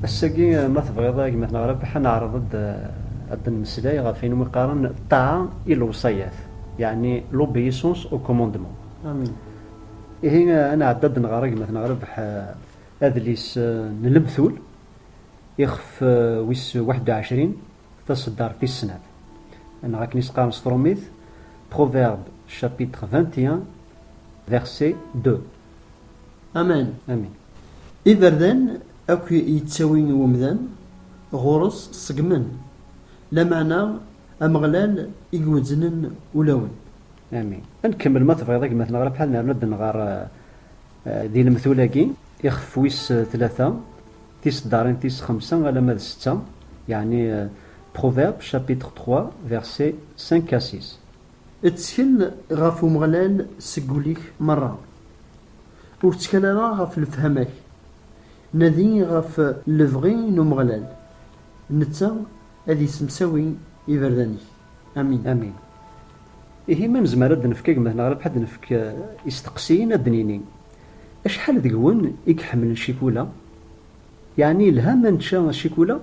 ass-agi ma tebɣiḍ a gma Rabaḥ ad neɛreḍ-d ad d-nemmeslay ɣef ayen umi qqaren ṭṭaɛa i lewṣayat, yeɛni l'obéissance au commandement. Ihi ad nɛeddi ad nɣer agmat neɣ rrbeḥ adlis n Lemtul, ixef wis waḥed u ɛecrin, taseddart tis snat. Neɣ akken i s-qqaren s tṛumit, Proverbes chapitre vingt et un verset deux. Amen. Amin. Iberdan akk yettawi umdan ɣur-s ṣeggmen, lameɛna Ameɣlal i iwezznen ulawen. Amin. Ad nkemmel ma tebɣiḍ a gma Tneɣra Bḥal nerna-d nɣer di lemtul-agi ixef wis tlata tiseddarin tis xemsa alamma d setta, yeɛni Proverbes chapitre trois versets cinq à six. Ttkel ɣef Umeɣlal seg ul-ik merra. Ur ttkal ara ɣef lefhama-k. Nadi ɣef lebɣi n Umeɣlal, netta ad yessemsawi iberdan-ik. Amin. Amin. Ihi ma nezmer ad d-nefk agmat neɣ rrbeḥ ad d-nefk isteqsiyen, ad d-nini, Acḥal deg-wen i iḥemmlen ccikula? Yeɛni yelha ma nečča ccikula?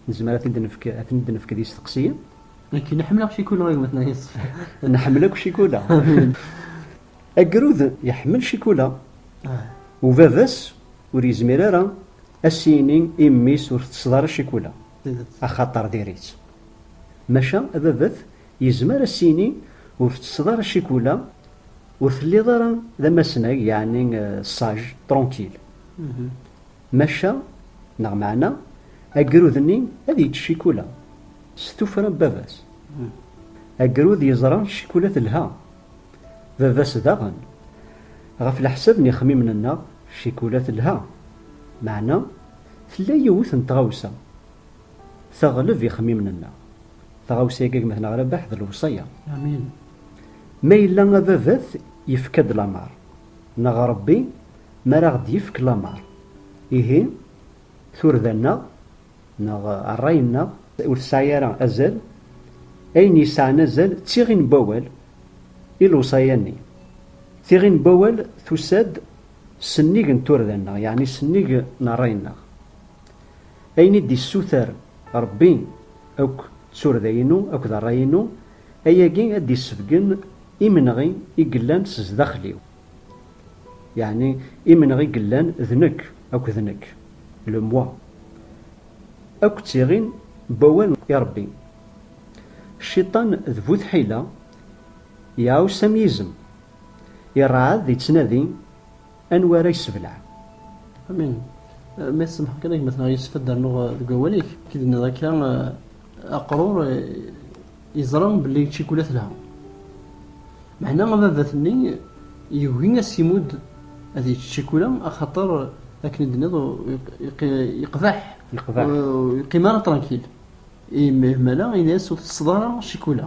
Nezmer ad t-id-nefk, ad ten-id-nefk d isteqsiyen. Nekk, neḥ mleɣ ccikula a gma-tneɣ yeṣfa. Nḥemmel akk ccikula. Amin. Agrud iḥemmel ccikula, u baba-s ur yezmir ara a s-yini i mmi-s ur tettesseḍ ara ccikula. Axaṭer diri-tt. Maca ababat yezmer ad s-yini, ur tettesseḍ ara ccikula, ur telliḍ ara d amasnag, yeɛni sage, tranquille. Maca, neɣ meɛna, agrud-nni ad yečč ccikula, s tuffra n baba-s. Agrud yeẓra ccikula telha, baba-s daɣen. Ɣef leḥsab n yixemmimen-nneɣ, ccikula telha, meɛna Tella yiwet n tɣawsa teɣleb ixemmimen-nneɣ. Taɣawsa-agi gma-t neɣ Rabaḥ d lewṣaya. Amin. Ma yella ababat yefka-d lameṛ, neɣ Ṛebbi mi ara aɣ-d-yefk lameṛ, ihi turda-nneɣ neɣ ṛṛay-nneɣ, ur tesɛi ara azal, ayen yesɛan azal d tiɣi n wawal i lewṣaya-nni, tiɣi n wawal tusa-d Sennig n turda-nneɣ, yeɛni sennig n rray-nneɣ. Ayen i d-issuter Ṛebbi akk d turda-inu akked rray-inu, ayagi ad d-issebgen imenɣi i yellan s zdaxel-iw. Yeɛni imenɣi yellan d nekk akked nekk, le moi. Akk ttiɣin n wawal i Ṛebbi. Cciṭan d bu tḥila, iɛuss am yizem Irɛad yettnadi anwa ara yessebleɛ. Amin. Ma tsemḥeḍ kan a gma tneɣ yessef ad d-rnuɣ deg wawal-ik. Ki d-tenniḍ akka aqrur yeẓra belli ccikula telha. Meɛna ababat-nni yugi ad s-imudd ad yečč ccikula axaṭer akken i d-tenniḍ yeqbeḥ ur yeqqim ara trankil. Imhmala ini-as ur tettetteḍ ara ccikula.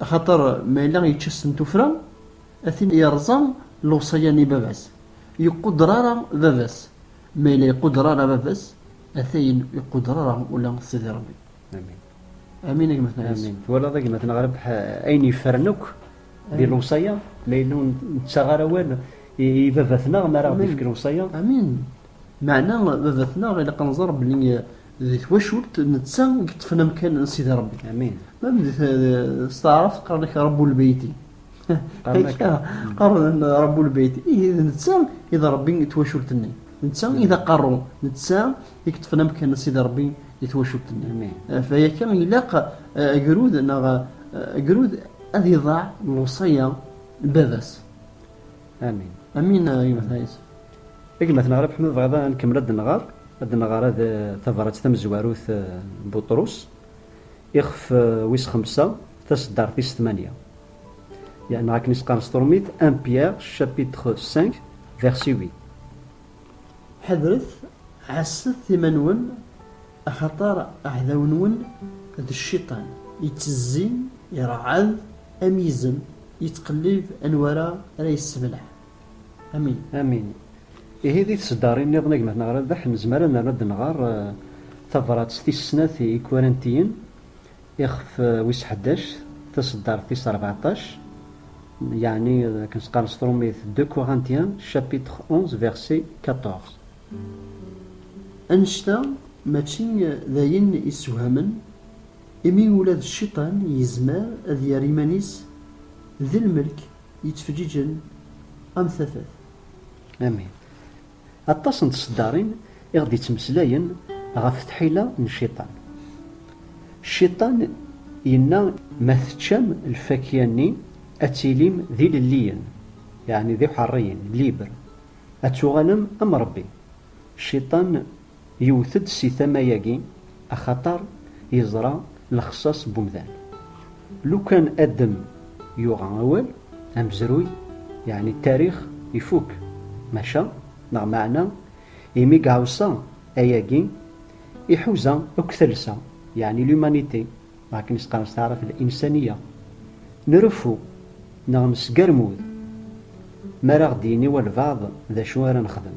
Axaṭer ma yella yečča-sen tuffra, a tin yerẓa lewṣaya n ibaba-s, yeqqudder ara baba-s, ma yella yeqqudder ara baba-s, atayen ur iqqudder ara ula Sidi Ṛebbi. Amin. Amin a gma Tnalis. Amin. Twalaḍ a gma Tnaɣrib, ayen yeffren akk di lewṣaya, ma yella ur nettaɣ ara awal i baba-tneɣ mi ara ɣ-d-ifk lewṣaya. Amin. Meɛna baba-tneɣ ilaq ad nẓer belli di twacult netta i yeṭṭfen amkan n Sidi Rebbi. Amin. Mem di s taɛrabt qqaren-ak Rabbul Beyti. Akka, qqaren Rabbul Beyti. Ihi d netta i d Rebbi n twacult-nni. D netta i d aqerru. D netta i yeṭṭfen amkan n Sidi Rebbi di twacult-nni. Amin. Ɣef waya ilaq agrud neɣ agrud ad iḍaɛ lewṣaya n baba-s. Amin. Amin a gma-tneɣ a Yusef. A gma-tneɣ Rabeḥ ma tebɣiḍ ad nkemmel ad d-nɣer, ad d-nɣer ad tabrat tamezwarut n Buṭrus, ixef wis xemsa, taseddart tis tmanya. Neɣ akken i s-qqaren s turmit, 1 Pierre chapitre 5 verset 8. Ḥadret, ɛasset iman-nwen, axaṭer aɛdaw-nwen d cciṭan, ittezzi, iṛeɛɛed am yizem, yettqellib anwa ara ara yessebleɛ. Amin. Amin. Ihi di tseddarin nniḍen a gma-tneɣ Rabeḥ, nezmer ad nerr ad d-nɣer tabrat tis snat i Ikurantiyen, Ixef wis ḥdac, taseddart tis ṛbeɛṭac, yeɛni akken s-qqaren s trumit De Corinthiens chapitre onze verset quatorze. Annect-a mačči d ayen yessewhamen, imi ula d Cciṭan yezmer ad yerr iman-is d lmelk yettfeǧǧiǧen am tafat. Amin. Aṭas n tseddarin i ɣ-d-ittmeslayen ɣef tḥila n Cciṭan. Cciṭan yenna, Ma teččam lfakya-nni, ad tilim d ilelliyen, yeɛni d iḥeṛṛiyen, libres, ad tuɣalem am Ṛebbi. Cciṭan Yewwet-d si tama-agi axaṭer yeẓra lexṣaṣ n umdan. Lukan Adem yuɣa awal, amezruy, yeɛni tarix, ifuk. Maca, neɣ meɛna, imi gɛusa ayagi, iḥuza akk talsa, yeɛni l'humanité, neɣ akken i s-qqaren s taɛrabt l'insaniya. Nreffu, neɣ nesgermud, mi ara ɣ-d-yini walbeɛḍ d acu ara nexdem.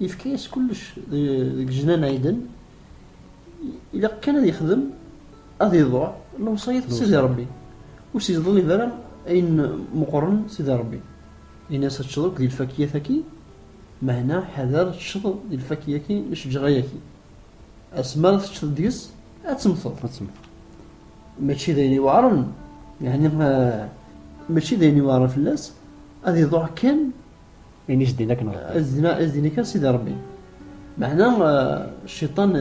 Yefka-yas kullec deg jnan aiden, ilaq kan ad yexdem, ad iḍuɛ lewṣayat n Sidi Ṛebbi, ur s-yeḍlib ara ayen meqqren Sidi Ṛebbi, in-as ad teččeḍ akk di lfakiyat-agi, meɛna ḥader ad teččeḍ di lfakiyat-agi n lcejra-agi, asmi ara teččeḍ deg-s ad temmteḍ. Mačči d ayen iweɛren, yeɛni mačči d ayen iweɛren fell-as, ad iḍuɛ kan Ini s din akken Rebbi. S din akken Sidi Rebbi. Meɛna cciṭan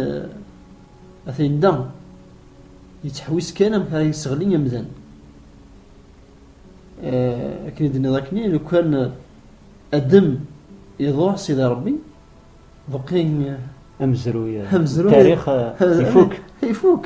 atan da yettḥewwis kan amek ara yesseɣli amdan. Akken i d-nniḍ akni, lukan Adem iḍuṛ Sidi Rebbi, beqqi amezruy, amezruy, tarix ifuk. Ifuk.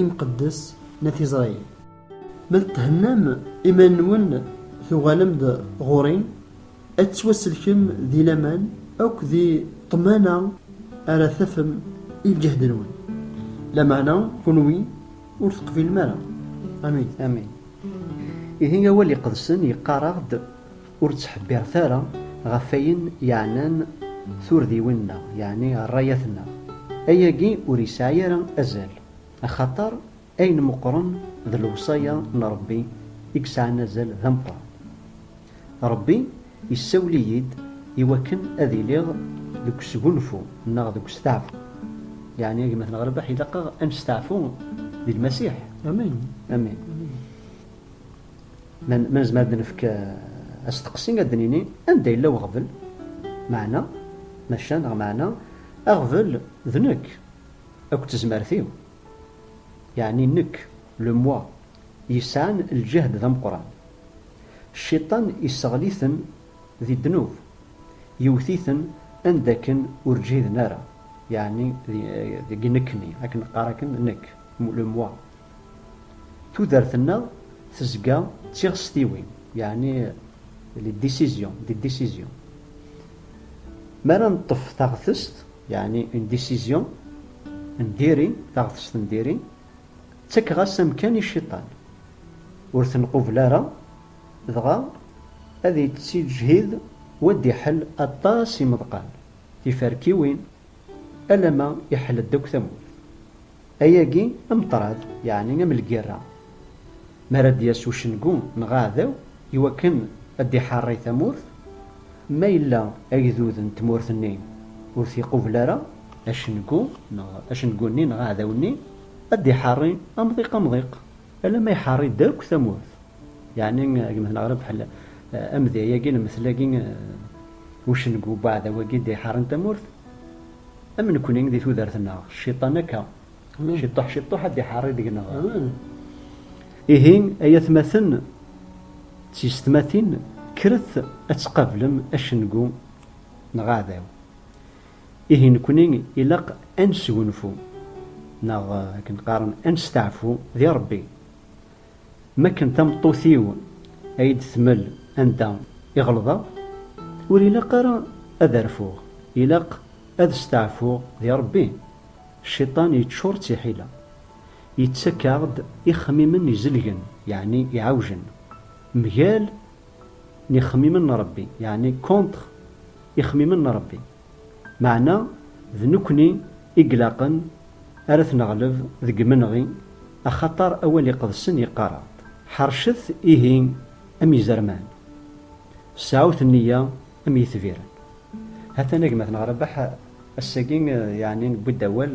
imqeddes n At Isṛayil. Ma thennam iman-nwen tuɣalem-d ɣur-i, ad tettwasselkem di laman akk di ṭṭmana ara tafem i lǧehd-nwen, lameɛna kunwi ur teqbilem ara. Amin. Amin. Ihi awal iqedsen yeqqar-aɣ-d. Ur ttḥebbiret ara ɣef wayen yeɛnan turdiwin-nneɣ, yeɛni rrayat-nneɣ. Ayagi ur yesɛi ara azal, axaṭer ayen meqqren d lewṣaya n Ṛebbi i yesɛan azal d ameqqran. Ṛebbi yessawel-iyi-d i wakken ad iliɣ deg usgunfu neɣ deg usteɛfu. Yeɛni a gma-t n Ɣerbeḥ, ilaq-aɣ ad nesteɛfu di Lmasiḥ. Amin. Amin. Ma nezmer ad nefk asteqsi, ad d-nini anda yella weɣbel, meɛna, maca neɣ meɛna, aɣbel d nekk akked tezmert-iw, yeɛni nekk, le moi, yesɛan lǧehd d ameqqran. Cciṭan isseɣli-ten di ddnub, yewwet-iten anda akken ur ǧhiden ara, yeɛni deg nekkni, ad k-neqqar akken nekk, le moi. Tudert-nneɣ tezga d tiɣestiwin, yeɛni les décisions, des décisions. Mi ara neṭṭef taɣtest, yeɛni une décision, n diri, taɣtest n diri, ttakeɣ-as amkan i cciṭan, ur t-nqubel ara, dɣa ad yettiǧhid u ad d-iḥell aṭas imeḍqan, tiferkiwin, alamma iḥell-d akk tamurt. Ayagi ameṭrad, yeɛni am lgirra, mi ara d-yas ucengu neɣ aɛdaw i wakken ad d-iḥeṛṛi tamurt, ma yella agdud n tmurt-nni ur t-iqubel ara, acengu neɣ acengu-nni neɣ aɛdaw-nni ad d-iḥeṛṛi amḍiq amḍiq alamma iḥeṛṛi-d akk tamurt. Yeɛni agmat neɣ rebḥel amedya-agi, lemtel-agi, ucengu n uɛdaw-agi d-iḥeṛṛin tamurt. Am nekni di tudert-nneɣ, cciṭan akka, ciṭuḥ ciṭuḥ ad d-iḥerri deg-neɣ. Ihi, ay atmaten d tiysetmatin, kkret ad tqablem acengu neɣ aɛdaw. Ihi nekni ilaq ad nesgunfu, neɣ akken qqaren ad nesteɛfu di Rebbi. Mi akken tameṭṭut-iw a yi-d-tmel anda i ɣelḍeɣ, ur ilaq ara ad rfuɣ, ilaq ad steɛfuɣ di Rebbi. Cciṭan yeččur d tiḥila, yettak-aɣ-d ixemmimen izelgen, yeɛni iɛewjen, mgal n ixemmimen n Rebbi, yeɛni contre ixemmimen n Rebbi. Meɛna d nekkni i ilaqen ar at neɣleb deg imenɣi, axaṭer awal iqedsen yeqqar-aɣ-d, Ḥercet ihi am izerman, sɛut nniya am yetbiren. Hatan a gma-tneɣ Rabaḥ, ass-agi yeɛni newwi-d awal.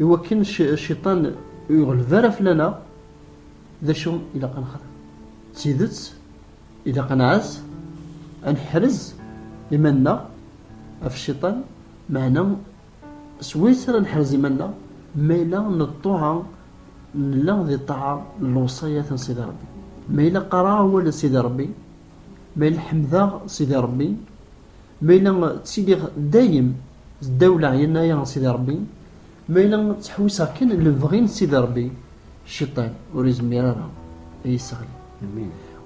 I wakken cciṭan ur yeɣleb ara fell-aneɣ, d acu ilaq ad nexdem? D tidet, ilaq ad nɛaz, ad neḥrez iman-nneɣ ɣef cciṭan, meɛna s wayes ara neḥrez iman-nneɣ ma yella n ṭṭuɛa nella di ṭṭaɛa n lewṣayat n Sidi Ṛebbi? Ma yella qqareɣ awal n Sidi Ṛebbi? Ma yella ḥemdeɣ Sidi Ṛebbi, ma yella ttiliɣ dayem ddaw leɛyana-ya n Sidi Ṛebbi, ma yella ttḥewwiseɣ kan lebɣi n Sidi Ṛebbi, cciṭan ur izmir ara ad yi-sseɣli.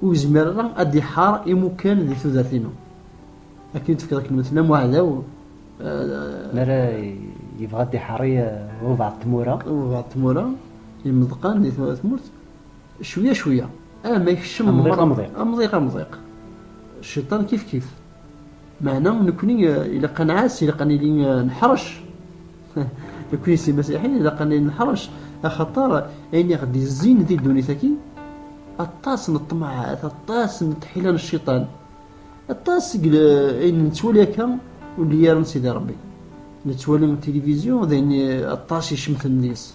Ur yezmir ara ad d-iḥeṛ imukan di tudert-inu. Akken i d-tefkiḍ akken weltma-m uɛdaw. Mi ara yebɣa ad d-iḥeṛ i walbeɛḍ n tmura. Walbeɛḍ n tmura, imeḍqan di tmurt. Cwiya cwiya, ama ikcem Amḍiq, amḍiq. amḍiq amḍiq, cciṭan kif kif. Meɛna nekkni eh, ilaq ad nɛass, ilaq ad nili eh, neḥṛec. Nekkni s imasiḥiyen ilaq ad nili neḥṛec, axaṭer ayen i ɣ-d-yezzin di ddunit-agi, aṭas n ṭṭmaɛat, aṭas n tḥila n cciṭan, aṭas seg l- ayen nettwali akka ur nelli ara n Sidi Ṛebbi. Nettwali tilivizyu d ayen eh, aṭas icemten deg-s.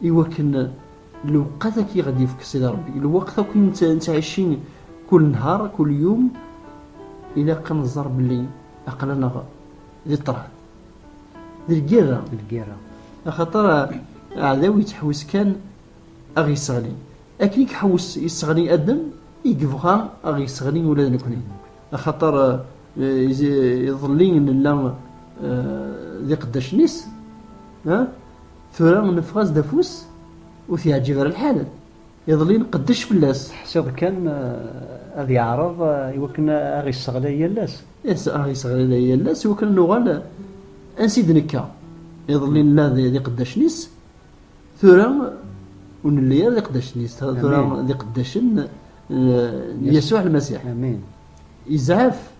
i wakken lewqat akk i ɣ-d-yefk Sidi Ṛebbi, lweqt akk i nettɛici kul nhar, kul yum, ilaq ad nẓer belli aql-aneɣ di ṭṭrad, di lgirra, di lgirra, axaṭer aɛdaw yettḥewwis kan a ɣ-yesseɣli, akken i iḥewwes yesseɣli Adem, i yebɣa a ɣ-yesseɣli ula d nekkni, axaṭer iḍelli nella d iqeddacen-is, Tura neffeɣ-as-d afus ur t-yeɛǧib ara lḥal. Iḍelli nqeddec fell-as. Teḥsiḍ kan ad yeɛreḍ i wakken ad aɣ-yesseɣlay yal ass? Ih, ad aɣ-yesseɣlay yal ass i wakken ad nuɣal ansi i d-nekka. Iḍelli nella d iqeddacen-is, tura ur nelli ara d iqeddacen-is, tura d iqeddacen n Yasuɛ Lmasiḥ. Izɛef